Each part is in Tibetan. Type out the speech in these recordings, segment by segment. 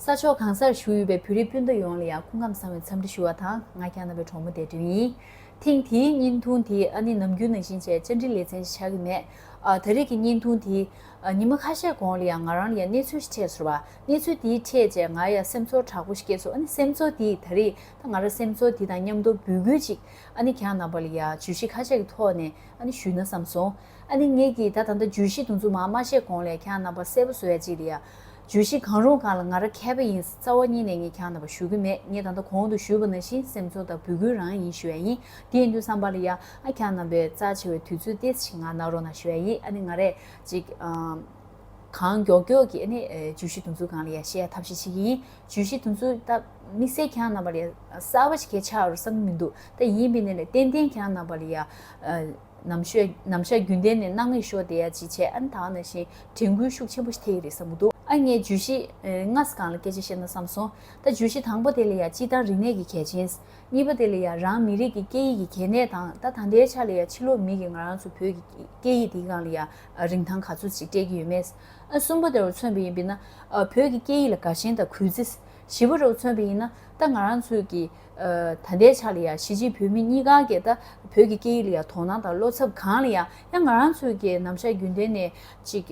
ས་ཕྱོགས་གང་སར་བཞུགས་ཡོད་པའི་བོད་རིགས་སྤུན་ཟླ་ཡོངས་ལ་ཡང་སྐུ་ཁམས་བཟང་བའི་འཚམས་འདྲི་ཞུ་བ་དང་ང་རྒྱ་ནག་པའི་གྲོགས་མོ་དད་འདུན་ཡིན། ཐེངས་དེའི་བརྙན་ཐུང་དེ་ཨ་ནི་ནམ་རྒྱུན་ནང་བཞིན་བཅས་བཅར་འདྲི་ལེ་ཚན་བྱ་གི་མེད། ད་རེས་ཀྱི་བརྙན་ཐུང་དེ། ཉིན་མ་ཁ་ཤས་གོང་ལ་ཡང་ང་རང་ལ་ཡང་གནས་ཚུལ་ཞིག་འཕྲད་སོང་བ། གནས་ཚུལ་དེའི་འཕྲད་རྗེས་ང་ཡང་སེམས་ཚོར་དྲག་པོ་ཞིག་སྐྱེས་སོང་ཨ་ནི་སེམས་ཚོར་དེས་ད་རེས་ད་ང་རང་སེམས་ཚོར་དེ་དང་མཉམ་དུ་འབོད་སྐུལ་ཅིག་ཨ་ནི་གྱང་རྣམ་པ་ལ་ཡང་ཇུས་གཞི་ཁ་ཤས་ཀྱི་ཐོག་ནས་ཨ་ནི་ཞུས་ན་བསམ་སོང། ཨ་ནི་ངེད་ཀྱིས་ད་ད་ལྟ་ཇུས་གཞི་དུ་འཛུགས་མ་མ་བྱས་གོང་ལས་གྱང་རྣམ་པ་གསལ་པོ་བཟོ་ཡ་ཅིག་ལ་ཡང། ཇུས་གཞི་གང་རུང་གང་ལ་ང་ར་མཁས་པ་ཡིན་རྩ་བ་ཉིད་ནས་ངས་གྱང་རྣམ་པ་ཞུ་གི་མེད་ངས་ད་ལྟ་གོང་དུ་ཞུས་པ་ནང་བཞིན་སེམས་ཚོར་དང་འབོད་སྐུལ་རང་ཡིན་ཞུ་ཡ་ཡིན་དེ་ཡིན་དུས་བསམ་པ་ལ་ཡང་ཨ་གྱང་རྣམ་པའི་རྩ་ཆེ་བའི་དུས་ཚོད་ཏེ་ཆིག་ང་ནག་རོ་ན་ཞུ་ཡ་ཡིན་ཨ་ནི་ང་རས་ཅིག། གང་མགྱོགས་མགྱོགས་ཀྱིས་ནི་ཇུས་གཞི་དུམ་ཚུགས་གང་ལ་ཡ་ཤེས་ཡ་ཐབས་ཤེས་བྱེད་ཀྱི་ཡིན། ཇུས་གཞི་དུམ་ཚུགས་ད་དམིགས་བསལ་གྱང་རྣམ་པ་ལ་ཡ་གསར་བ་ཞིག་གས་ཆགས་རུ་ས་མི་མི་འདུག་ད་ཡིན་པས་ནི་ལས་ཏན་ཏན་གྱང་རྣམ་པ་ལ་ཡ། ནམ་ཤོད་ནམ་ཤ་རྒྱུན་ལྡན་ནི་སྣང་མེད་ཤོར་བསྡད་ཡ་ཅི་བྱས་ཨ་ནི་ད་ནང་བཞིན་དྲན་སྐུལ་ཤུགས་ཆེན་པོ་ཞིག་ཐེབས་ཀྱི་རེད་བསམ་གྱི་འདུག་ཨ་ངས་ཇུས་གཞི་ལྔ་ས་གང་ལ་སྐད་ཆ་བཤད་ན་བསམ་སོང་ད་ཇུས་གཞི་དང་པོ་དེ་ལ་ཡ་སྤྱི་དང་རིག་གནས་ཀྱི་གལ་ཆེན། གཉིས་པ་དེ་ལ་ཡ་རང་མི་རིགས་ཀྱི་སྐད་ཡིག་གི་གལ་གནད་དང་ད་ད་ལྟའི་ཆ་ལ་ཡ་ཕྱི་ལོག་མི་གིས་ང་རང་ཚོ་བོད་ཀྱི་སྐད་ཡིག་འདི་གང་ལ་ཡ། རིན་ཐང་ག་ཚོད་ཅིག་སྤྲད་ཀྱི་ཡོད་མེད། གསུམ་པ་དེ་རུ་མཚོན་པ་ཡིན་པས་ན། བོད་ཀྱི་སྐད་ཡིག་ལ་དགའ་ཞེན་དང་གུས་བརྩི། བཞི་པ་རུ་མཚོན་པ་ཡིན་ན། ད་ང་རང་ཚོས་ཀྱི། ད་ལྟའི་ཆ་ལ་ཡང་གཞིས་བྱེས་བོད་མི་གཉིས་གང་གིས་ད་བོད་ཀྱི་སྐད་ཡིག་ལ་ཡང་དོ་སྣང་དང་བློ་འཚབ་གང་ལ་ཡང་ཡང་ང་རང་ཚོས་ཀྱི་ནམ་ཞར་རྒྱུན་ལྡན་ནས་ཅིག།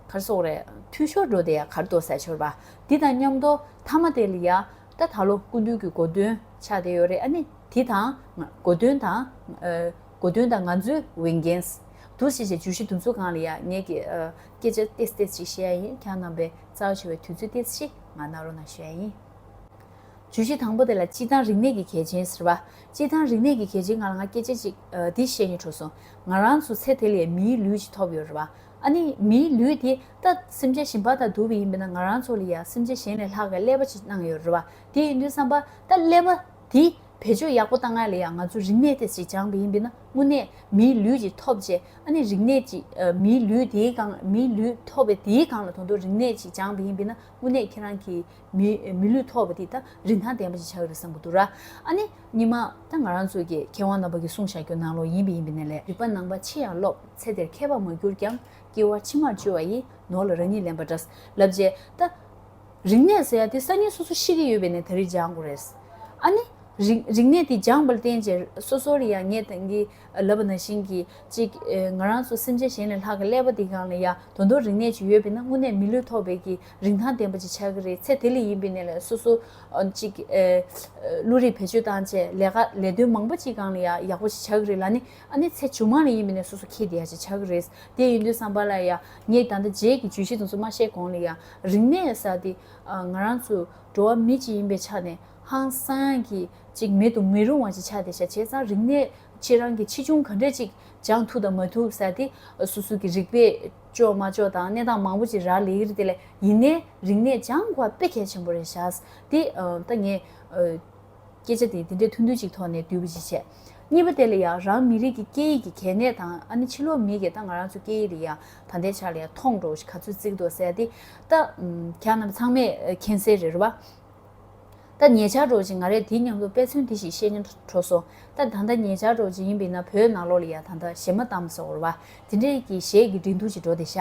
གར་སོགས་རེད། འཐུས་ཤོར་འགྲོ་དེ་ཡང་གར་དོ་ཟས་ཤོར་བ། འདི་དང་མཉམ་དོ། མཐའ་མ་དེ་ལ་ཡང། ད་ད་ལོ་སྐུ་མདུན་གྱི་སྒོ་མདུན་ཆགས་བསྡད་ཡོད་རེད་ཨ་ནི། དེ་དང། སྒོ་མདུན་དང། གོ་དོན་དང་ང་ཚོའི་འོས་འགན། དུ་ཞེས་བྱའི་བརྗོད་གཞི་འདུ་འཛོ་གང་ལ་ཡང་ངས་ཀྱི། སྐད་ཆ་ཏེས་ཏེས་ཅིག་བཤད་ཡ་ཡིན་གྱང་རྣམ་པའི་རྩ་བ་ཆེ་བའི་དུས་ཚོད་ཏེས་ཞིག་ང་ནག་རོ་ན་བཤད་ཡ་ཡིན། བརྗོད་གཞི་དང་པོ་དེ་ལ་སྤྱི་དང་རིག་གནས་ཀྱི་གལ་ཆེན་ཟེར་བ། སྤྱི་དང་རིག་གནས་ཀྱི་གལ་ཆེན་ང་ལ་ང་སྐད་ཆ་ཅིག་འདི་བཤད་ཉེ་གྲོ་སོང། ང་རང་ཚོ་ཚེ་དེ་ལས་མིའི་ལུས་ཅིག་ཐོབ་ཡོད་རེད་བ། ཨ་ནི་མིའི་ལུས་དེ་ད་སེམས་ཅན་ཞིམ་པ་དང་དུ་བ་ཡིན་པས་ན་ང་རང་ཚོ་ལ་ཡང་སེམས་ཅན་གཞན་ལས་ལྷག་གི་ཀླད་པ་ཅིག་གནང་ཡོད་རེད་བ་དེ་ཡིན་དུས་བསམ་པ་ད་ཀླད་པ་དེ་བེད་སྤྱོད་ཡག་པོ་བཏང་སྔར་ལས་ཡང་ང་ཚོས་རིག་གནས་དེ་སྤྱི་སྦྱང་བ་ཡིན་པས་ན་དངོས་གནས་མིའི་ལུས་ཀྱིས་ཐོབ་རྗེས་ཨ་ནི་རིག་གནས་ཀྱིས་མིའི་ལུས་དེའི་སྒང་མིའི་ལུས་ཐོབ་པའི་དེའི་སྒང་ལ་དོན་དུ་རིག་གནས་སྤྱི་སྦྱང་བ་ཡིན་པས་ན་དངོས་གནས་ཁྱེད་རང་གིས་མིའི་མི་ལུས་ཐོབ་པ་དེ་དང་རིན་ཐང་ལྡན་པ་ཞིག་བྱ་འོས་པ་བསམ་གྱི་འདུག་ར་ཨ་ནི་ཉི་མ་ད་ང་རང་ཚོའི་གི་མཁས་དབང་རྣམ་པ་གིས་གསུང་བཞག་རྒྱུ་ནང་ལོགས་ཡིན་པས་ཡིན་པའི་ནས་ལས། རིག་པ་ནང་པ་ཆེ་ཡང་སློབ་ཚེ་དེར་མཁས་པ་མ་གྱུར་ཀྱང་སྐྱེ་བ་ཕྱི་མར་བཅོལ་བ་ཡིས་ནོར་ལ་རང་ཉིད་ལན་པ་འདྲ་ལབ་རྗེས་ད། རིག་གནས་ཟེར་ཡ་དེ་སང་ཉིན་སོ་སོ་ཤེས་ཀྱི་ཡོད་པས་ནས་ད་རིས་སྦྱང་དགོས་རེད། ཨ་ནི། རིག་རིག་གནས་དེ་སྦྱངས་པར་བརྟེན་ཅེར་སོ་སོར་ཡང་ངས་དེང་གི་ལབ་པ་ནང་བཞིན་གྱི་ཅིག་ང་རང་ཚོ་སེམས་ཅན་གཞན་ལས་ལྷག་གི་ཀླད་པ་དེ་གང་ལ་ཡང་དོན་དོན་རིག་གནས་ཅིག་ཡོད་པས་ན་དངོས་གནས་མི་ལུས་ཐོག་བེད་ཀྱི་རིན་ཐང་ལྡན་པ་ཅིག་ཆགས་ཀྱི་རེད་ཚེ་དེ་ལས་ཡིན་པས་ནས་ལས་སོ་སོ་ཅིག་བློ་རིག་བེད་སྤྱོད་བཏང་བཅས་ལས་ཀ་ལས་དོན་མང་པོ་ཅིག་གང་ལ་ཡང་ཡག་པོ་ཅིག་ཆགས་ཀྱི་རེད་ལ་ནི་ཨ་ནི་ཚེ་བྱུང་མ་ལ་ཡིན་པས་ནས་སོ་སོ་ཁྱེད་དེ་ཡ་ཅིག་ཆགས་ཀྱི་རེད་དེ་ཡིན་དུས་བསམ་པ་ལ་ཡང་ངས་ད་ལྟ་རྗེས་ཀྱི་ཇུས་གཞི་དེ་ཚོ་མ་བཤད་གོང་ལ་ཡང་རིག་གནས་ས་འདི་ང་རང་ཚོ་འགྲོ་བ་མི་གཅིག་ཡིན་པའི་ཆ་ནས་ཧང་སངས་ཀྱིས་ཅིག་མེད་དུ་མི་རུང་བ་ཞིག་ཆགས་ཏེ་བྱས་ཙང་རིག་གནས་ཕྱི་རང་གི་ཕྱི་བྱུང་ག་འདྲས་ཅིག་སྦྱང་ཐུབ་དང་མ་ཐུབ་ས་འདི་སོ་སོ་གི་རིག་པས་ལྕོགས་མ་ལྕོགས་དང་གནས་སྟངས་མང་པོ་ཅིག་རག་ལས་ཀྱི་རེད་དེ་ལས་ཡིན་ནའི་རིག་གནས་སྦྱང་དགོས་པ་དཔེ་གལ་ཆེན་པོ་རེད་བཞག་ཏེ་ད་ངས། སྐད་ཆ་དེ་འདི་འདྲའི་ཐུང་ཐུང་ཅིག་ཐོག་ནས་བསྡུས་པ་ཅི་བྱེད། གཉིས་པ་དེ་ལ་ཡང་རང་མི་རིགས་ཀྱི་སྐད་ཡིག་གི་གལ་གནད་དང་ཨ་ནི་ཕྱི་ལོག་མི་གི་ད་ང་རང་ཚོ་སྐད་ཡིག་ལ་ཡང་ད་ལྟའི་ཆར་ལ་ཡང་མཐོང་འགྲོ་བ་ཞིག་ག་ཚོད་བརྩིགས་འདུག་ཟེར་ཏེ། ད། གྱང་རྣམས་ཚང་མས་མཁྱེན་གསལ་རེད་བ། ད་ཉེ་ཆར་གྲོགས་ཅིག་ང་རས་དེའི་ཉམས་ལོ་དཔེ་མཚོན་དེ་ཞིག་བཤད་ཉན་དྲོ་སོང། ད་ད་ལྟ་ཉེ་ཆར་གྲོགས་ཅིག་ཡིན་པས་ན་བོད་ནང་ལོག་ལ་ཡང་ད་ད་གཞས་མ་བཏང་བ་སོགས་བོར་བ། དེ་འདྲས་ཀྱི་གཞས་ཀྱི་སྒྲིག་འདུག་ཅིག་འགྲོ་དེ་ཤ་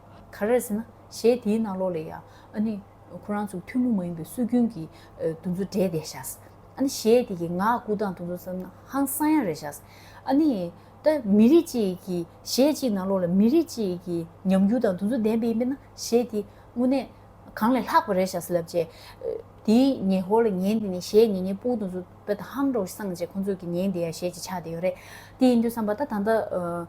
ག་རེ་ཟེར་ན་གཞས་དེའི་ནང་ལོགས་ལས་ཡང་ཨ་ནི་ཁོ་རང་ཚོ་ཐུན་མོང་མ་ཡིན་པའི་སྲོལ་རྒྱུན་གྱི་འདུ་འཛོ་སྒྲས་བསྡད་ཤགས། ཨ་ནི་གཞས་དེ་གི་ངག་ལྐུགས་སྟངས་འདུ་འཛོ་ཙམ་ན་ཧང་སང་ཡང་རེད་ཤགས། ཨ་ནི་ད་མི་རིགས་གཅིག་གི་གཞས་གཅིག་ནང་ལོགས་ལ་མི་རིགས་གཅིག་གི་ཉམས་འགྱུར་དང་འདུ་འཛོ་ལྡན་པ་ཡིན་པས་ན་གཞས་དེ་དངོས་གནས་གང་ལས་ལྷག་པ་རེད་ཤགས་ལབ་རྗེས། དེའི་ཉེ་ཧོར་ལ་ཉན་དེ་ནས་གཞས་ཉེ་ཉེ་པོ་འདུ་འཛོ་བལྟ་ཧང་འགྲོ་སངས་རྗེས་ཁོང་ཚོ་གི་ཉན་དེ་ཡང་གཞས་ཀྱི་ཆ་དེ་ཡོད་རེད་དེ་ཡིན་དུས་བསམ་པ་ད་ད་ལྟ།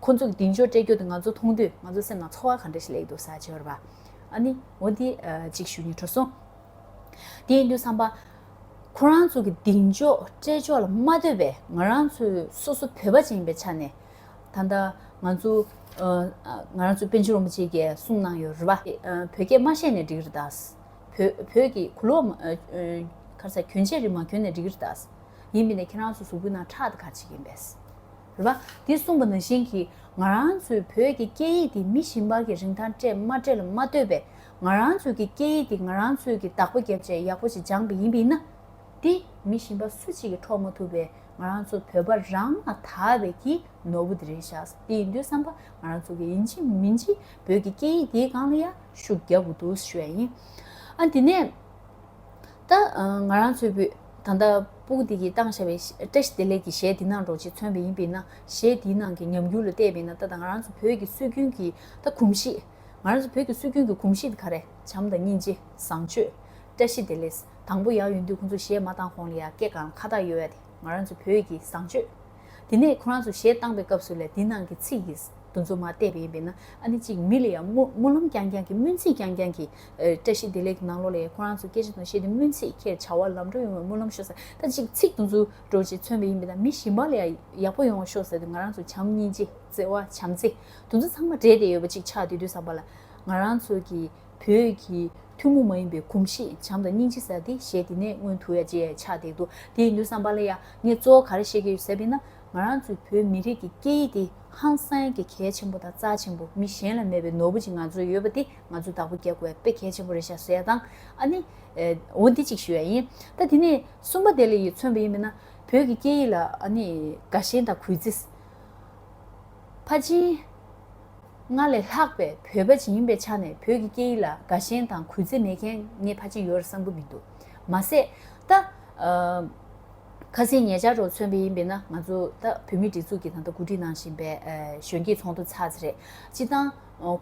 ཁོ་ཚོ་གི་གདིང་ཤོར་སྤྲད་རྒྱུ་དེ་ང་ཚོ་མཐོང་དུས་ང་ཚོ་སེམས་ནང་ཚོར་བ་ག་འདྲ་ཞིག་ལེགས་འདུག་ས་བྱི་བར་བ་ཨ་ནི་འོ་དེ་ཅིག་ཞུ་ཉེ་འཁྲོ་སོང། དེ་ཡིན་དུས་བསམ་པ། ཁོ་རང་ཚོ་གི་གདིང་འཇོག་སྤྲད་ཕྱོགས་ལ་མ་འདོད་པའི་ང་རང་ཚོ་སོ་སོ་བོད་པ་ཅན་ཡིན་པའི་ཆ་ནས། ད་ལྟ་ང་ཚོ། ང་རང་ཚོ་པན་ཆེན་རོང་པ་ཅིག་གིས་གསུངས་གནང་ཡོད་རེད་བ། བོད་སྐད་མ་བཤད་ནས་འགྲིག་རེད་ད། བོད་ཀྱི་གུ་ལོག། ཁ་ས་གྱོན་ཆས་རིགས་མ་གྱོན་ནས་འགྲིག་རེད་ད། ཡིན་མིན་ནས་ཁྱེད་རང་ཚོ་གཟུགས་པོའི་ནང་ཁྲག་དེ་ག་ཅིག་ཡིན་པས། རེད་པ། འདི་གསུངས་པ་ན་བཞིན་གྱི་ང་རང་ཚོའི་བོད་ཀྱི་སྐད་ཡིག་འདི་མི་ཞིམ་པར་གྱི་རིན་ཐང་སྤྲད་མ་སྤྲད་ལ་མ་ལྟོས་པའི་ང་རང་ཚོའི་གི་སྐད་ཡིག་འདི་ང་རང་ཚོའི་གི་བདག་པོ་རྒྱབ་ཆས་ཡག་པོ་ཞིག་སྦྱངས་པ་ཡིན་པ་ཡིན་ན། འདི་མི་ཞིམ་པ་སུ་གཅིག་གི་འཕྲོག་མ་ཐུབ་པའི་ང་རང་ཚོ་བོད་པ་རང་ལ་དག་པའི་གི་ནོར་བུ་འདི་རེད་ཤག་སེ་འདི་ཡིན་དུས་བསམ་པ་ང་རང་ཚོ་གི་ཡིན་ཅི་མིན་ཅི་བོད་ཀྱི་སྐད་ཡིག་འདིའི་སྒང་ལ་ཡ་ཤུགས་རྒྱབ་དགོས་འདུག་ཞུ་བས་ཡིན། ཨ་འདི་ནས། ད། ང་རང་ཚོའི་བུ། ད་ལྟ། པུཀུ་ཏི་གིས་བཏང་བཞག་པའི། བཀྲ་ཤིས་བདེ་ལེགས་ཀྱི་གཞས་འདི་ནང་འགྲོ་ཆེད་མཚོན་པ་ཡིན་པས་ན། གཞས་འདིའི་ནང་གི་ཉམས་འགྱུར་ལ་བལྟས་པས་ན་ད་ལྟ་ང་རང་ཚོ་བོད་ཀྱི་སྲོལ་རྒྱུན་གྱི། ད། གོམས་གཤིས། ང་རང་ཚོ་བོད་ཀྱི་སྲོལ་རྒྱུན་གྱི་གོམས་གཤིས་འདི་ག་རེ། བྱམས་དང་སྙིང་རྗེ། བཟང་སྤྱོད། བཀྲ་ཤིས་བདེ་ལེགས། དང་པོ་ཡག་ཡོད་དུས་ཁོང་ཚོ་གཞས་མ་བཏང་གོང་ལ་ཡང་སྐད་གང་ལ་ཁ་བཏགས་ཡོད་ཡ་དེ། ང་རང་ཚོ་བོད་ཀྱི་བཟང་སྤྱོད། དེ་ནས་ཁོ་རང་ཚོ་གཞས་བཏང་པའི་སྐབས་སུ་ལས་དེ་ནང་གི་ཚིག་གི་འདུ་འཛོམས་མ་བལྟས་པ་ཡིན་པས་ན་ཨ་ནེ་གཅིག་མི་ལ་ཡང་སྨོན་ལམ་རྐྱང་རྐྱང་གི་སྨོན་ཚིག་རྐྱང་རྐྱང་གི། བཀྲ་ཤིས་བདེ་ལེགས་ཀྱི་ནང་ལོགས་ལས་ཁོ་རང་ཚོ་སྐད་ཆ་དང་གཞས་དེ་སྨོན་ཚིག་ཁྱེད་བྱ་བ་ལམ་འགྲོ་ཡོང་བའི་སྨོན་ལམ་ཤོག་ཟེར་ད་གཅིག་ཚིག་འདུ་འཛོམས་འགྲོ་ཅེས་མཚོན་པ་ཡིན་པས་ན་མི་ཞིམ་པ་ལ་ཡང་ཡག་པོ་ཡོང་བ་ཤོག་ཟེར་ཏེ་ང་རང་ཚོ་བྱམས་སྙིང་རྗེ་བརྩེ་བ་བྱམས་བརྩེ་འདུ་འཛོམས་ཚང་མ་སྦྲེལ་ཏེ་ཡོད་པ་གཅིག་ཆགས་དེ་དུས་བསམ་པ་ལ་ང་རང་ཚོ་གི་བོད་ཀྱི་ཐུན་མོང་མ་ཡིན་པའི་གོམས་གཤིས་བྱམས་དང་སྙིང་རྗེ་ཟེར་ཏེ་གཞས་འདི་ནས་སྔོན་དུ་ཡ་རྗེས་ཆགས་བསྡད་འདུག་དེ་ཡིན་དུས་བསམ་པ་ལ་ཡ་ངས་གཙོ་བོ་ག་རེ་བཤད་ཀྱི་ཡོད་ཟེར་བས་ན་ང་རང་ཚོའི་བོད་མི་རིགས་ཀྱི་སྐད་ཡིག་དེ་ཧང་སངས་ཀྱི་གལ་ཆེན་པོ་དང་རྩ་ཆེན་པོ་མི་གཞན་ལ་མེད་པའི་ནོར་བུ་ཅིག་ང་ཚོའི་ཡོད་པ་དེ་ང་ཚོས་བདག་པོ་བརྒྱག་དགོས་པས་གལ་ཆེན་པོ་རེད་ཤག་ཟེར་དང་ཨ་ནི་འོ་འདི་གཅིག་ཞུ་ཡ་ཡིན་ད་དེ་ནས་གསུམ་པ་དེ་ལ་ཡིད་མཚོན་པ་ཡིན་པས་ན་བོད་ཀྱི་སྐད་ཡིག་ལ་ཨ་ནི་དགའ་ཞེན་དང་གུས་བརྩི། ཕ་ཆིན། སྔར་ལས་ལྷག་པའི་བོད་པ་ཞིག་ཡིན་པའི་ཆ་ནས་བོད་ཀྱི་སྐད་ཡིག་ལ་དགའ་ཞེན་དང་གུས་བརྩི་མེད་མཁན་ངའི་ཕ་གཅིག་ཡོད་རེད་བསམ་གི་མི་འདུག་མ་ཟད། ད། ཁ་སེང་ཉེ་ཆར་རུ་མཚོན་པ་ཡིན་པས་ན་ང་ཚོ་ད་བོད་མིའི་སྒྲིག་འཛུགས་ཀྱི་ད་ལྟ་གོ་སྒྲིག་གནང་བཞིན་པའི་གཞོན་སྐྱེས་ཚོགས་འདུ་ཚགས་ཚེ་རེད། སྤྱི་བཏང།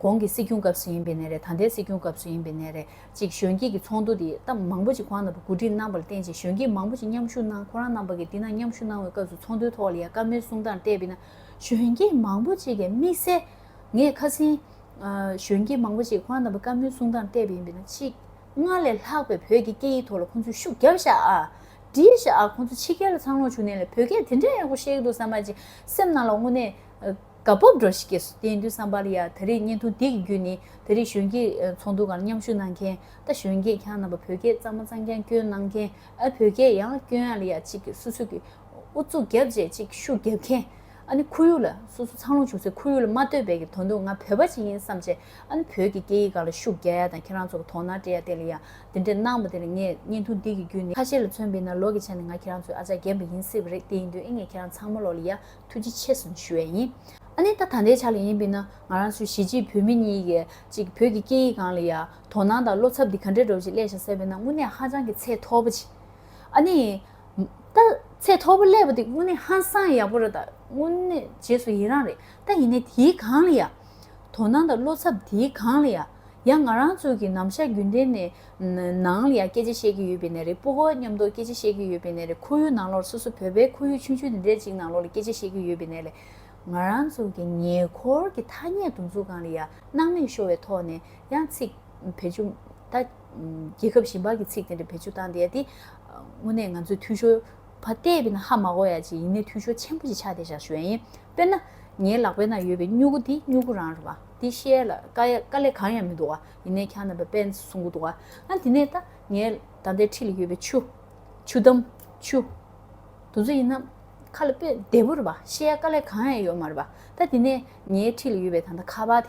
གོང་གི་སྲིད་སྐྱོང་སྐབས་སུ་ཡིན་པའི་ནས་རེད་ད་ལྟའི་སྲིད་སྐྱོང་སྐབས་སུ་ཡིན་པའི་ནས་རེད་ཅིག་གཞོན་སྐྱེས་ཀྱི་ཚོགས་འདུ་དེ་ད་མང་པོ་ཅིག་གོང་ན་བུ་གོ་སྒྲིག་གནང་པ་ལ་བརྟེན་ཅིག་གཞོན་སྐྱེས་མང་པོ་ཅིག་མཉམ་ཞུགས་གནང་ཁོ་རང་རྣམ་པ་ཀྱི་འདི་ན་མཉམ་ཞུགས་གནང་བའི་སྐབས་སུ་ཚོགས་འདུའི་ཐོག་ལ་ཡ་དཀའ་མོལ་གསུང་སྟངས་བལྟས་པས་ན། གཞོན་སྐྱེས་མང་པོ་ཅིག་གི་དམིགས་བསལ། ངས་ཁ་སེང། གཞོན་སྐྱེས་མང་པོ་ཅིག་ཁོ་རང་རྣམ་པ་དཀར་མོའི་གསུང་སྟངས་བལྟས་པ་ཡིན་པས་ན་ཆིག་སྔར་ལས་ལྷག་པའི་བོད་ཀྱི་སྐད་ཡིག་ཐོག་ལ་ཁོང་ཚོས་ཤུགས་རྒྱབ་ཤག་ཨ། འདྲིས་ཤག་ཨ་ཁོང་ཚོ་ཕྱི་རྒྱལ་ལ་འཚང་ལོངས་བྱུང་ནས་ལས་བོད་སྐད་དེ་འདྲའི་ཡག་པོ་བཤད་གི་འདུག་བསམ་པ་ཅིག་སེམས་ནང་ལ་དངོས་གནས་དགའ་སྤོབས་འགྲོ་ཞིག་སྐྱེས་སོ་དེ་ཡིན་དུས་བསམ་པར་ཡ་ད་རེས་བརྙན་ཐུང་འདི་གི་བརྒྱུད་ནས་ད་རེས་གཞོན་སྐྱེས་ཚོགས་འདུ་གང་མཉམ་ཞུགས་གནང་མཁན་ད་གཞོན་སྐྱེས་ཁྱང་རྣམ་པ་བོད་སྐད་གཙང་མ་གཙང་རྐྱང་སྐྱོན་གནང་མཁན་ཨ་བོད་སྐད་ཡང་སྐྱོན་ཨ་ལ་ཡ་ཅིག་གི་སུ་སུ་གི་ཨུ་ཚུགས་རྒྱབ་བྱེད་གཅིག་ཤུགས་རྒྱབ་མཁན། ཨ་ནི་ཁོར་ཡུག་ལ། སོ་སོ་འཚང་ལོང་བྱུང་ཚེ་ཁོར་ཡུག་ལ་མ་ལྟོས་པའི་གི་དོན་འདུག་ང་བོད་པ་ཅིག་ཡིན་བསམ་ཆེད་ཨ་ནི་བོད་ཀྱི་སྐད་ཡིག་ག་ལ་ཤུགས་རྒྱ་ཡ་དང་ཁྱེད་རང་ཚོ་གི་དོགས་སྣང་སྤྲད་ཡ་དེ་ལ་ཡ་འདི་འདྲས་གནང་བ་དེ་ལ་ངས་བརྙན་ཐུང་འདི་གི་བརྒྱུད་ནས་ཁ་ཤས་ལ་མཚོན་དཔེ་ན་ལོག་གི་ཆ་ནས་ང་ཁྱེད་རང་ཚོའི་ཨ་ཅག་རྒན་པ་ཡིན་སྲིད་པ་རེད་དེ་ཡིན་དུས་ཨེ་ངས་ཁྱེད་རང་ཚང་མ་ལོག་ལ་ཡ་ཐུགས་རྗེ་ཆེ་སོང་ཞུ་ཡ་ཡིན་ཨ་ནི་ད་ད་ལྟའི་ཆ་ལ་ཡིན་དཔེ་ན་ང་རང་ཚོའི་གཞིས་བྱེས་བོད་མི་གཉིས་ཀས་ཅིག་བོད་ཀྱི་སྐད་ཡིག་གང་ལ་ཡ་དོགས་སྣང་དང་བློ་འཚབ་འདི་ག་འདྲས་འགྲོ་བ་ཅིག་སླད་བྱ་སྲེད་པས་ན་དངོས་གནས་ཧ་ཅང་གི་ཚད་མཐོ་པོ་ཅིག་ཨ་ནི། ད་ཚད་མཐོ་པོ་སླེབས་པ་འདི་དངོས་གནས་ཧང་སང་ཡག་པོ་རེད་ད་དངོས་གནས་རྗེས་སུ་ཡི་རང་རེད་ད་ཡིན་ནའི་དེའི་གང་ལ་ཡ། དོ་སྣང་དང་བློ་འཚབ་དེའི་གང་ལ་ཡ། ཡང་ང་རང་ཚོ་གི་ནམ་བཞག་རྒྱུན་ལྡན་ནས་ནང་ལ་ཡ་སྐད་ཆ་བཤད་ཀྱི་ཡོད་པའི་ནས་རེད་སྤོ་བོ་མཉམ་དུ་སྐད་ཆ་བཤད་ཀྱི་ཡོད་པའི་ནས་རེད་ཁོར་ཡུག་ནང་ལོར་སོ་སོ་བོད་པའི་ཁོར་ཡུག་ཆུང་ཆུང་དེ་འདྲའི་གཅིག་ནང་ལོར་ལ་སྐད་ཆ་བཤད་ཀྱི་ཡོད་པའི་ནས་ལས། ང་རང་ཚོ་གི་ཉེ་འཁོར་གྱི་ཐ་སྙད་འདུ་འཛུགས་གང་ལ་ཡ་སྣང་མེད་ཤོར་བའི་ཐོག་ནས་ཡང་ཚིག་བེད་སྤྱོད་ད་རྒྱལ་ཁབ་གཞན་པ་གི་ཚིག་དེ་འདྲ་བེད་སྤྱོད་བཏང་སྟེ་ཡ་དེ། དངོས་གནས་ང་ཚོས་འཐུས་ཤོར། བ་སྟེ་བི་ན་ཧ་མ་གོ་ཡ་ཅིག་ཡིན་ནའི་འཐུས་ཤོར་ཆེན་པོ་ཞིག་ཆགས་ཏེ་བཞག་ཞོན་ཡིན། དཔེར་ན། ངའི་ལག་པའི་ནང་ཡོད་པའི་སྨྱུ་གུ་འདི་སྨྱུ་གུ་རང་རེད་བ། འདི་ཤེས་ཡ་ལ་དཀའ་ཡ་དཀའ་ལས་གང་ཡང་མི་འདུག་བ། ཡིན་ནའི་ཁྱང་ནང་པའི་དཔེ་བཟུང་གི་འདུག་བ། ཨ་དེ་ནས་ད། ངའི་ད་ལྟའི་འཁྲིས་ལ་ཡོད་པའི་ཆུ། ཆུ་དམ། ཆུ། དུ་ཚོད་ཡིན་ན། ཁ་ལ་དཔེ་བདེ་བོ་རེད་བ། ཤེས་ཡ་དཀའ་ལས་གང་ཡང་ཡོད་མ་རེད་བ། ད་དེ་ནས། ངའི་འཁྲིས་ལ་ཡོད་པའི་ད་ད་ཁ་བ་དེ།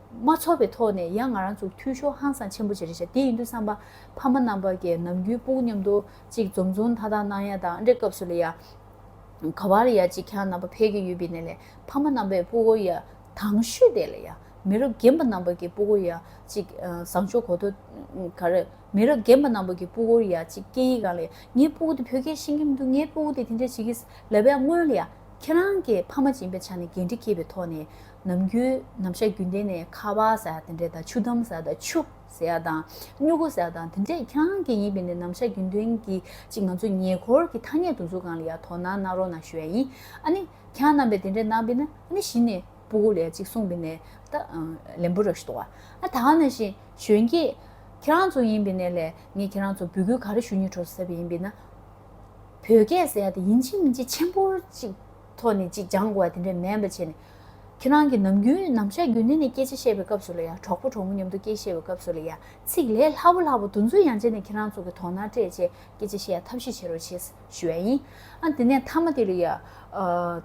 མ་ཚོར་བའི་ཐོག་ནས་ཡང་ང་རང་ཚོ་འཐུས་ཤོར་ཧང་སང་ཆེན་པོ་བྱེད་རེ་བྱ་དེ་ཡིན་དུས་བསམ་པ་ཕ་མ་རྣམ་པ་ཀྱི་ནམ་རྒྱུན་དཔུང་མཉམ་དུ་གཅིག་འཛོམས་འཛོམས་མཐའ་དག་གནང་ཡ་དང་འདྲེ་སྐབས་སུ་ལ་ཡ། ག་བ་ལ་ཡ་གཅིག་ཁྱང་རྣམ་པ་ཕལ་གྱི་ཡོད་པའི་ནས་ལས་ཕ་མ་རྣམ་པས་སྤུ་གོ་ཡ། དང་ཤོས་དེ་ལ་ཡ། མི་རབས་རྒན་པ་རྣམ་པ་ཀྱི་སྤུ་གོ་ཡ་གཅིག་བཟང་ཕྱོགས་གོ་ཐོ། ག་རེ། མི་རབས་རྒན་པ་རྣམ་པ་ཀྱི་སྤུ་གོ་ཡ་གཅིག་སྐད་ཡིག་གང་ལ་ཡ། ངའི་སྤུ་གོ་དེ་བོད་སྐད་ཤེས་ཀྱི་མི་འདུག་ངའི་སྤུ་གོ་དེ་དེ་འདྲ་བྱེད་ཀྱི་ལ་བས་སྔོན་ལ་ཡ། ཁྱེད་རང་གི་ཕ་མ་སྦྱིན་པའི་ཆ་ནས་འགན་འཁྲི་འཁྱེར་བའི་ཐོག་ནས། ནམ་རྒྱུན་ནམ་ཞག་རྒྱུན་ལྡན་ནས་ཁ་བ་ཟ་ཡག་དེ་འདྲས་དང་ཆུ་དམ་ཟ་དང་ཆུ་ཟེ་ཡག་དང་སྨྱུ་གུ་ཟ་ཡག་དང་དེ་འདྲས་ཁྱང་གི་ཡིན་པས་ནས་ནམ་ཞག་རྒྱུན་ལྡན་གྱི་ཅིག་ང་ཚོ་ཉེ་འཁོར་གྱི་ཐ་སྙད་དུ་འཛུགས་གང་ལ་ཡག་དོ་ན་ནག་རོ་ནང་ཞུ་ཡག་ཡིན་ཨ་ནི་ཁྱང་རྣམ་པས་དེ་འདྲས་གནང་པས་ན་ཨ་ནི་གཞི་ནས་པུ་གུ་ལས་ཅིག་གསུངས་པས་ནས་ད་ལན་པུ་རག་ཤི་དོ་ཨ་ད་ང་ན་བཞིན་གཞོན་སྐྱེས་ཁྱེད་རང་ཚོ་ཡིན་པས་ནས་ལས་ངས་ཁྱེད་རང་ཚོ་བུ་གུའི་ག་རེ་ཞུ་ཉེ་གྲོ་སོ་ཟེར་བས་ཡིན་པས་ན་བོད་སྐད་ཟེ་ཡག་དེ་ཡིན་ཅིག་མིན་ཅིག་ཆེན་པོར་ཅིག། ཐོག་ནས་ཅིག་སྦྱང་དགོས་བ་དེ་འདྲ་མེད་པ་བྱས་ནས། ཁྱེད་རང་གིས་ནམ་རྒྱུན་ནམ་ཞག་རྒྱུན་ལྡན་ནས་སྐད་ཆ་བཤད་པའི་སྐབས་སུ་ལ་ཡ་གྲོགས་པོ་གྲོགས་མོ་མཉམ་དུ་སྐད་བཤད་པའི་སྐབས་སུ་ལ་ཡ་ཚིག་ལས་ལྷག་པོ་ལྷག་པོ་དུ་མཚོན་ཡང་བྱས་ནས་ཁྱེད་རང་ཚོ་གི་དོགས་སྣང་སྤྲད་བྱས་སྐད་ཆ་བཤད་ཡ་ཐབས་ཤེས་བྱེད་རོགས་བྱས་ཞུ་བ་ཡིན། ཨ་དེ་ནས་མཐའ་མ་དེ་ལ་ཡ།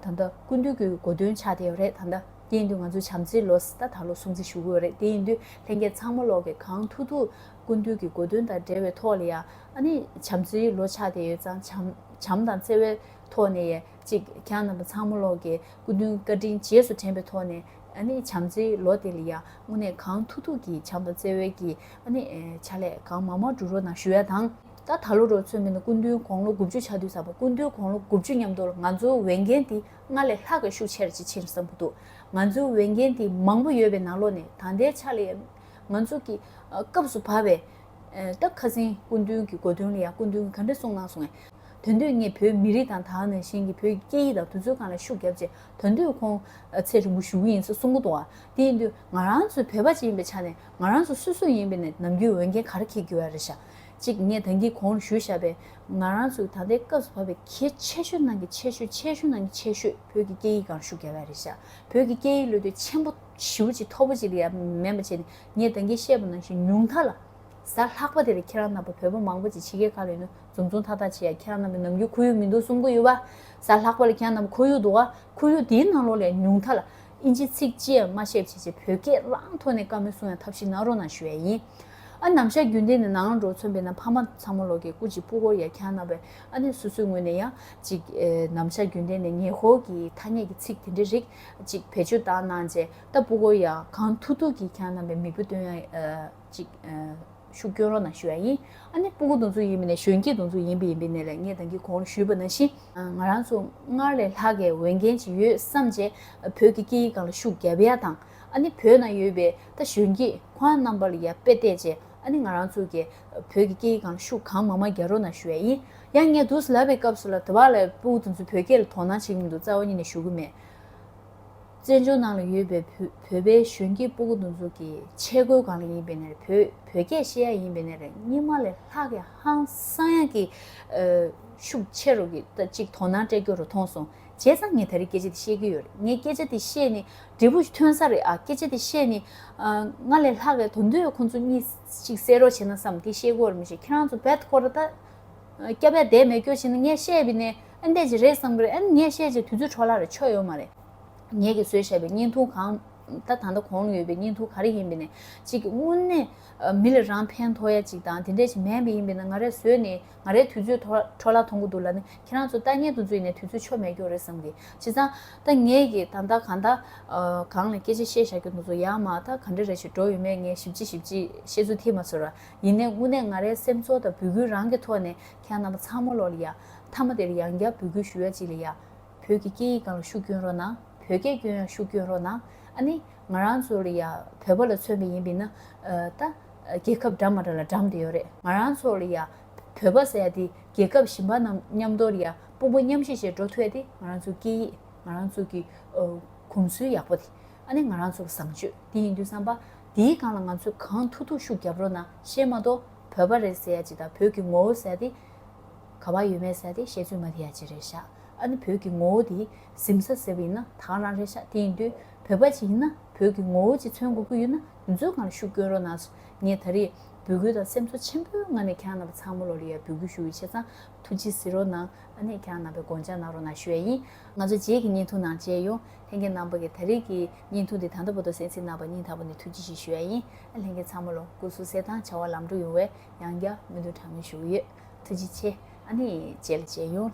ད་ལྟ་སྐུ་མདུན་གྱི་གོ་དོན་ཆགས་བསྡད་ཡོད་རེད་ད། དེ་ཡིན་དུས་ང་ཚོས་བྱམས་བརྩེའི་ལོ་ཟླ་དང་ལོ་སྲུང་བརྩི་ཞུ་གི་ཡོད་རེད་དེ་ཡིན་དུས་ལྷན་རྒྱས་ཚང་མ་ལོག་གི་གང་ཐུག་ཐུག་སྐུ་མདུན་གྱི་གོ་དོན་དང་འབྲེལ་བའི་ཐོག་ལ་ཡ། ཨ་ནི་བྱམས་བརྩེའི་ལོ་ཆགས་བསྡད་ཡོད་ཙང་བྱམས་དང་བརྩེ་བའི་ཐོག་ནས་ཡ། ཅིག་གྱང་རྣམ་པ་ཚང་མ་གློག་གི་སྐུ་མདུན་བཀའ་དྲིན་རྗེས་སུ་དྲན་པའི་ཐོག་ནས་ནི་བྱམས་བརྩེའི་ལོ་དེ་ལ་ཡང་དངོས་གནས་གང་ཐུག་ཐུག་གིས་བྱམས་པ་བརྩེ་བའི་གི་ནི་བྱ་ལས་གང་མང་མང་འགྲུ་རོགས་གནང་ཞུ་ཡ་དང། ད་ད་ལོ་རོ་ཚོད་མེད་ན་སྐུ་མདུན་དགོང་ལོ་དགུ་བཅུ་ཆ་དུས་ས་པ་སྐུ་མདུན་དགོང་ལོ་དགུ་བཅུ་མཉམ་དུ་ལ་ང་ཚོའི་འོས་འགན་དེ་སྔར་ལས་ལྷག་གི་ཤུགས་ཆེར་ཅིག་ཕྱིན་བསམ་གི་འདུག་ང་ཚོའི་འོས་འགན་དེ་མང་པོ་ཡོད་པའི་ནང་ལོ་ནས་ད་ལྟའི་ཆ་ལ་ཡང་ང་ཚོ་གི་སྐབས་སུ་བབས་པའི་སྟབས་ཁ་ཟིན་སྐུ་མདུན་གི་དགོས་དོན་ལ་ཡང་སྐུ་མདུན་གིས་ག་འདྲ་གསུངས་གནང་སོང་ངས། དོན་དུ་ངས་བོད་མི་རིགས་དང་ད་ནས་གཞན་གྱི་བོད་ཀྱི་སྐད་ཡིག་དང་དུས་ཚོད་གང་ལ་ཤུགས་བརྒྱབ་ཅེས་དོན་དུ་ཁོང་ཚེ་རིང་པོ་བཞུགས་གི་ཡིན་ས་གསུང་གི་འདུག་བ་དེ་ཡིན་དུས་ང་རང་ཚོ་བོད་པ་གཅིག་ཡིན་པའི་ཆ་ནས་ང་རང་ཚོ་སུ་སུ་ཡིན་པའི་ནས་ནམ་རྒྱུན་འོས་འགན་ག་རེ་འཁེལ་དགོས་ཡ་རེད་ཤག་གཅིག་ངས་ད་འདི་གོང་རུ་ཞུས་ཤག་པས་ང་རང་ཚོའི་ད་ལྟའི་སྐབས་སུ་བབ་པའི་གལ་ཆེ་ཤོས་ནང་གི་ཆེ་ཤོས་ཆེ་ཤོས་ནང་གི་ཆེ་ཤོས་བོད་ཀྱི་སྐད་ཡིག་གང་རུ་ཤུགས་བརྒྱབ་ཡ་རེད་ཤག་བོད་ཀྱི་སྐད་ཡིག་བློ་གཏོད་ཆེན་པོ་ཞིའུ་ཅིག་མཐོ་པོ་ཅིག་ལ་ཡ་མེད་མ་བྱས་ནས་ངས་ད་འདི་བཤད་པ་ནང་བཞིན་ཉུང་མཐའ་ལ། གཟའ་ལྷག་པ་དེ་ལ་ཁྱེད་རང་ནང་པ་བོད་པ་མང་པོ་ཅིག་ཕྱི་རྒྱལ་གང་ལ་ཡོད་ན། འཛུམ་འཛུམ་ཐག་ཐག་བྱེད་ཡ་ཁྱེད་རང་རྣམ་པའི་ནམ་རྒྱུན་ཁོར་ཡུག་མི་འདུག་གསུང་གི་ཡོད་པ། ཟ་ལྷག་པ་ལ་ཁྱེད་རང་རྣམས་ཁོར་ཡུག་འདུག་ཨ། ཁོར་ཡུག་དེའི་ནང་ལོགས་ལས་ཉུང་མཐའ་ལ། ཨིན་ཇི་ཚིག་ཅི་ཡང་མ་ཤེས་བྱས་བྱས་བོད་སྐད་རང་ཐོག་ནས་བཀའ་མོལ་གསུང་ཡང་ཐབས་ཤིག་ནང་རོགས་ནང་ཞུ་ཡ་ཡིན། ཨ་ནམ་ཞག་རྒྱུན་ལྡན་ནས་ནང་ལ་འགྲོ་མཚོན་པའི་ན་ཕ་མ་ཚང་མ་ལོགས་ཀྱི་སྐུ་གཅིག་པུ་ཧོར་ཡ་ཁྱེད་རང་རྣམ་པའི་ཨ་ནེ་སོ་སོའི་ངོས་ནས་ཡང་ཅིག་ནམ་ཞག་རྒྱུན་ལྡན་ནས་ཉེ་ཧོར་གྱི་ཐ་སྙད་ཀྱི་ཚིག་དེ་འདྲའི་རིགས་ཅིག་བེད་སྤྱོད་བཏང་གནང་བྱས་ད་པུ་ཧོར་ཡ་གང་ཐུག་ཐུག་གིས་ཁྱེད་རང་རྣམ་པའི་མིག་བུ་སྟོན་ཡ། ཅིག། ཤུགས་བསྐྱོན་རོགས་གནང་ཞུ་བ་ཡིན། ཨ་ནི་སྤུ་གུ་དུང་ཆུ་ཡིན་པའི་ནས་གཞོན་སྐྱེས་དུང་ཆུ་ཡིན་པའི་ཡིན་པའི་ནས་ལ་ངས་དང་གི་གོང་རུ་ཞུས་པ་ནང་བཞིན། ང་རང་ཚོ་སྔར་ལས་ལྷག་གི་འོས་འགན་ཅིག་ཡོད་བསམ་རྗེས་བོད་ཀྱི་སྐད་ཡིག་གང་ལ་ཤུགས་རྒྱབ་ཡ་དང་ཨ་ནི་བོད་ནང་ཡོད་པའི་ད་གཞོན་སྐྱེས་ཁོ་ཨ་རྣམ་པ་ལ་ཡར་དཔེ་བལྟས་རྗེས་ཨ་ནི་ང་རང་ཚོ་གི་བོད་ཀྱི་སྐད་ཡིག་གང་ལ་ཤུགས་གང་མང་མང་རྒྱབ་རོགས་གནང་ཞུ་བ་ཡིན། ཡང་ངས་དུས་ལབ་པའི་སྐབས་སུ་ལ་དེ་བ་ལ་སྤུ་གུ་དུང་ཆུ་བོད་སྐད་ལ་དོ་སྣང་བྱེད་ཀྱི་མི་འདུག་རྩ་བ་ཉིད་ནས་ཞུ་གི་མེད། བཙན་བྱོལ་ནང་ལ་ཡོད་པའི་བོད་པའི་གཞོན་སྐྱེས་སྤུ་གུ་འདུ་འཛོམས་ཀྱི་ཆས་གོས་གང་ལ་ཡིན་པའི་ནས་བོད་བོད་སྐད་བཤད་ཡ་ཡིན་པའི་ནས་རེད་སྙིང་མ་ལས་ལྷག་གི་ཧང་སང་ཡ་གི་ཤུགས་ཆེ་རུ་གི་ད་ཅིག་དོ་སྣང་སྤྲད་རྒྱུ་རུ་མཐོང་སོང་བྱས་ཙང་ངས་ད་རེས་སྐད་ཆ་དེ་བཤད་ཀྱི་ཡོད་རེད་ངས་སྐད་ཆ་དེ་བཤད་ནི་འབྲས་བུ་ཐོན་ས་རེད་ཨ་སྐད་ཆ་དེ་བཤད་ནི་ང་ལས་ལྷག་གི་དོ་འདོད་ཁོང་ཚོ་གཉིས་ཅིག་བསད་རོགས་བྱས་ན་བསམ་དེ་བཤད་དགོས་རེད་མི་ཤེས་ཁྱེད་རང་ཚོ་བལ་ཐུ་ཁོར་ད་སྐྱ་བལ་འདས་མེད་སྐྱོ་བྱས་ན་ངས་བཤད་པའི་ནས་ཨེ་འདས་ཅིག་རེད་བསམ་གི་རེད་ཨེ་ངས་བཤད་ཅིག་དུས་ཚོད་འཕྲོ་བརླག་རེད་ཆོ་ཡོད་མ་རེད། ངེད་ཀྱིས་བཟོས་བཞག་པའི་བརྙན་ཐུང་གང། ད་ད་ལྟ་གོང་ན་ཡོད་པའི་བརྙན་ཐུང་ག་རེ་ཡིན་པས་ནས་གཅིག་དངོས་གནས་མི་ལ་རང་ཕན་ཐོགས་ཡ་གཅིག་དང་དེ་འདྲས་ཞིག་མེད་པས་ཡིན་པས་ན་ང་རེ་བཟོས་ནས་ང་རེའི་དུས་ཚོད་འཕྲོ་བརླག་ཐོང་གི་འདུག་ལ་ནི་ཁྱེད་རང་ཚོ་ལྟ་ཉན་དུ་བརྫུས་ནས་དུས་ཚོད་ཆོ་མེད་རྒྱུ་རེད་བསམ་གི་བྱས་ཙང་ད་ངེད་ཀྱིས་ད་ད་གང་ད་གང་ལ་སྐད་ཆ་བཤད་བཞག་གི་འདུག་ཚོ་ཡང་མ་ད་ག་འདྲ་རེ་ཞིག་འགྲོ་ཡོད་མེད་ངས་ཞིབ་ཅིག་ཞིབ་ཅིག་བཤད་ཚུལ་ཐིག་མ་ཚོར་ར་ཡིན་ནས་དངོས་གནས་ང་རེའི་སེམས་ཚོར་དང་འབོད་སྐུལ་རང་གི་ཐོག་ནས་ཁྱེད་རང་རྣམ་པ་ཚང་མ་ལོག་ལ་ཡ་མཐའ་མ་དེར་ཡང་བསྐྱར་འབོད་སྐུལ་ཞུ་ཡ་གཅིག་ལ་ཡ། བོད་ཀྱི་སྐད་ཡིག་གང་ལ་ཤུགས་སྐྱོན་རོགས་གནང། བོད་སྐད་སྐྱོན་ཡང་ཤུགས་སྐྱོན་རོགས་གནང། ཨ་ནི། ང་རང་ཚོ་ལ་ཡང་བོད་པ་ལ་མཚོན་པ་ཡིན་པས་ན། ད། རྒྱལ་ཁབ་འདྲ་མ་འདྲ་ལ་འགྲམ་དུ་ཡོད་རེད། ང་རང་ཚོ་ལ་ཡང། བོད་པ་ཟེར་ཡ་དེ་རྒྱལ་ཁབ་གཞན་པ་རྣམས་མཉམ་དོར་ཡང་དཔུང་པ་མཉམ་གཤིས་བྱས་འགྲོ་ཐུ་ཡ་དེ་ང་རང་ཚོའི་སྐད་ཡིག། ང་རང་ཚོ་གི། གོམས་སྲོལ་ཡག་པོ་དེ། ཨ་ནི་ང་རང་ཚོ་ལ་བཟང་སྤྱོད་དེ་ཡིན་དུས་བསམ་པ། དེའི་སྒང་ལ་ང་ཚོས་གང་ཐུབ་ཐུབ་ཤུགས་རྒྱབ་རོགས་གནང་ཞེས་མ་གཏོགས། བོད་པ་རེད་ཟེར་ཡ་ཅི་དང་བོད་ཀྱི་ངོ་བོ་ཟེར་ཡ་དེ། ག་བ་ཡོད་མེད་ཟེར་ཡ་དེ་བཤད་ཚུལ་མ་དེ་ཡ་ཅི་རེད་ཤག། ཨ་ནི་བོད་ཀྱི་ངོ་བོ་དེ་གཟིམ་ས་ཟེར་བ་ཡིན་ན་དྭངས་རང་རེད་ཤག་དེ་ཡིན་དུས་བོད་པ་ཅིག་ཡིན་ན་བོད་ཀྱི་ངོ་བོ་ཅིག་མཚོན་དགོས་ཀྱི་ཡོད་ན་དེ་ཚོའི་སྒང་ལ་ཤུགས་བསྐྱོན་རོགས་གནང་སོ་ངས་ད་རེས་འབོད་སྐུལ་དང་སེམས་ཚོར་ཆེན་པོའི་ངང་ནས་གྱང་རྣམ་པ་ཚང་མ་ལོ་ལེ་ཡར་འབོད་སྐུལ་ཞུ་ཡི་ཆེ་ཚང་ཐུགས་རྗེ་གཟིགས་རོགས་གནང་ཨ་ནས་གྱང་རྣམ་པའི་དགོངས་འཇགས་གནང་རོགས་གནང་ཞུ་ཡ་ཡིན་ང་ཚོ་རྗེས་ཀྱི་བརྙན་ཐུང་ནང་མཇལ་ཡོང་ལྷན་རྒྱས་རྣམ་པ་གིས་ད་རེས་ཀྱི་བརྙན་ཐུང་དེ་ད་ལྟ་བོ་ཏོ་སེན་སིན་གནང་བ་སྙིང་ཐག་པ་ནས་ཐུགས་རྗེ་ཆེ་ཞུ་ཡ་ཡིན་ཨ་ལྷན་རྒྱས་ཚང་མ་ལོ་སྐུ་གསུང་གསལ་ཐང་བྱ་བ་ལམ་འགྲོ་ཡོང་བའི། ཡང་བསྐྱར་མོས་འདུན་གྲངས་མེད་ཞུ་གི་ཡོད་ཐུགས་རྗེ་ཆེ་ཨ་ནེ་བྱས་ལ་བྱས་ཡོང།